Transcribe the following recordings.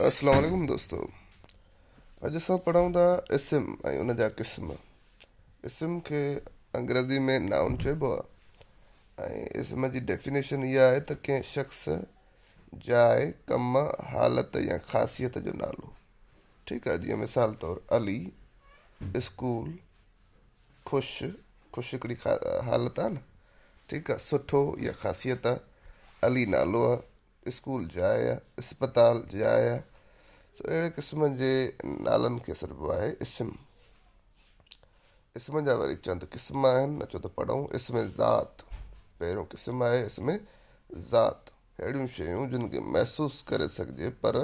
السلام عليڪم دوستو اڄ اسان پڙهون ٿا اسم ۽ ان جا قسم اسم کي انگريزي ۾ نائون چئبو آهي ۽ اسم جي ڊيفينيشن اها آهي ته ڪنهن شخص جاء ڪم حالت يا خاصيت جو نالو ٺيڪ آهي جيئن مثال طور علي اسڪول خوش، خوش هڪڙي حالت آهي نه ٺيڪ آهي، سٺو يا خاصيت آهي، علي نالو آهي، اسڪول جاء آهي، اسپتال جاء آهي، سو اهڙي قسم جي نالن کي سڏبو آهي اسم. اسم جا وري چند قسم آهن، اچو ته پڙهون، اسم ذات، پهريون قسم آهي اسم ذات، اهڙيون شيون جن کي محسوس ڪري سگهجي پر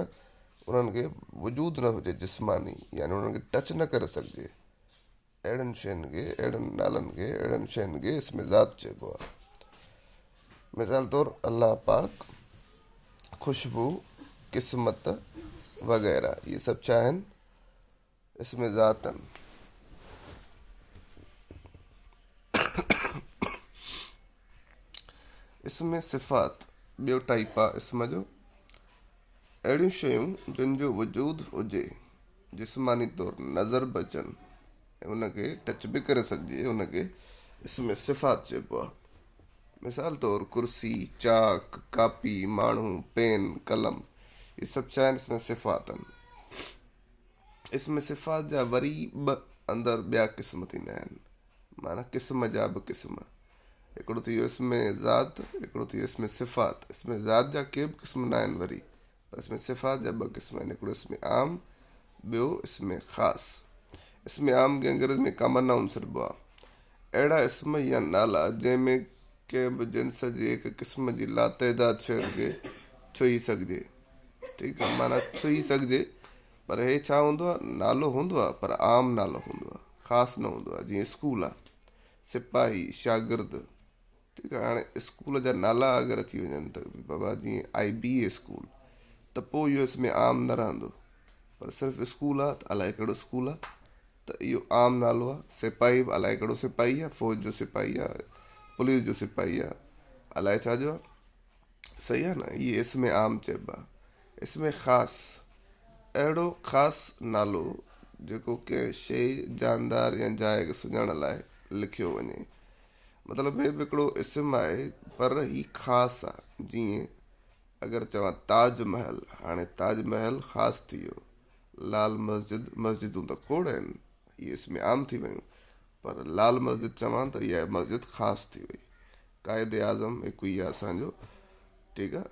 انهن کي وجود نه هجي جسماني يعني انهن کي ٽچ نه ڪري سگهجي، اهڙن شين کي، اهڙن نالن کي، اهڙن شين کي اسم ذات چئبو آهي. مثال طور الله پاڪ، خوشبو، قسمت وغيره اهي سڀ ڇا آهن؟ اسم ذات آهن. اسم صفات ٻيو ٽائيپ آهي اسم جو. اهڙيون شيون جن جو وجود هجي، جسماني طور نظر به اچن ۽ ان کي ٽچ به ڪري سگهجي، ان کي اسم صفات چئبو آهي. مثال طور ڪرسي، چاڪ، ڪاپي، ماڻهو، پين، قلم هي سڀ ڇا آهن اسم صفات آهن. اسم صفات جا وري به اندر ٻيا قسم ٿيندا آهن. معنيٰ قسم جا به قسم. هڪڙو ٿي ويو اسم ذات، هڪڙو ٿي ويو اسم صفات. اسم ذات جا ڪي به قسم ناهن وري، پر اسم صفات جا ٻه قسم آهن، هڪڙو اسم عام، ٻيو اسم خاص. اسم عام کي انگريزيء ۾ Common Noun سڏبو آهي. اهڙا اسم يا نالا جنهن ۾ ڪنهن به جنس جي هڪ قسم جي لاتعداد شين کي ڇهي سگهجي، ٺيڪ آهي، معنيٰ ڇهي سگهجي، پر هي ڇا هوندو آ؟ نالو هوندو آ پر عام نالو هوندو آ، خاص نه هوندو آ، جيئن اسڪول آ، سپاهي، شاگرد، ٺيڪ آ، هاڻي اسڪول جا نالا اگر اچي وڃن ته بابا جيئن آء بي اي اسڪول ته پوء اهو اسم عام نه رهندو، پر صرف اسڪول آ ته الائي ڪهڙو اسڪول آ ته اهو عام نالو آ، سپاهي به الائي ڪهڙو سپاهي آ، فوج جو سپاهي آ، پوليس جو سپاهي آ، الائي ڇا جو آ. صحيح آهي نه اهي اسم عام چئبا اسم خاص اهڙو خاص نالو جيڪو ڪنهن شيء جاندار يا جاء کي سڃاڻڻ لاء لکيو وڃي مطلب هي به هڪڙو اسم آهي پر هي خاص آ جيئن اگر چوان تاج محل هاڻي تاج محل خاص ٿي ويو لال مسجد مسجدون ته کوڙ آهن اهي اسم عام ٿي ويون پر لال مسجد چوان ته اها مسجد خاص ٿي وئي. قائد اعظم هڪ هي اسان جو ٺيڪ آ.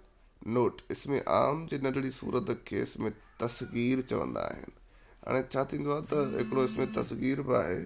نوٽ، اسم عام جي ننڍڙي صورت کي اسم تصغير چوندا آهن. هاڻي ڇا ٿيندو آ ته هڪڙو اسم تصغير به آهي.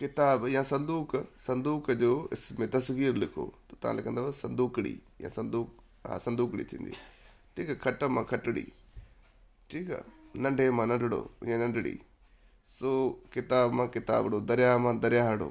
ڪتاب يا صندوق، صندوق جو اسم تصغير لکو ته تان لکندؤ صندوقڙي يا صندوق ها صندوقڙي ٿيندي ٺيڪ آ کٽ مان کٽڙي ٺيڪ آ ننڍي مان ننڍڙو يا ننڍڙي سو ڪتاب مان ڪتابڙو درياء مان درياهڙو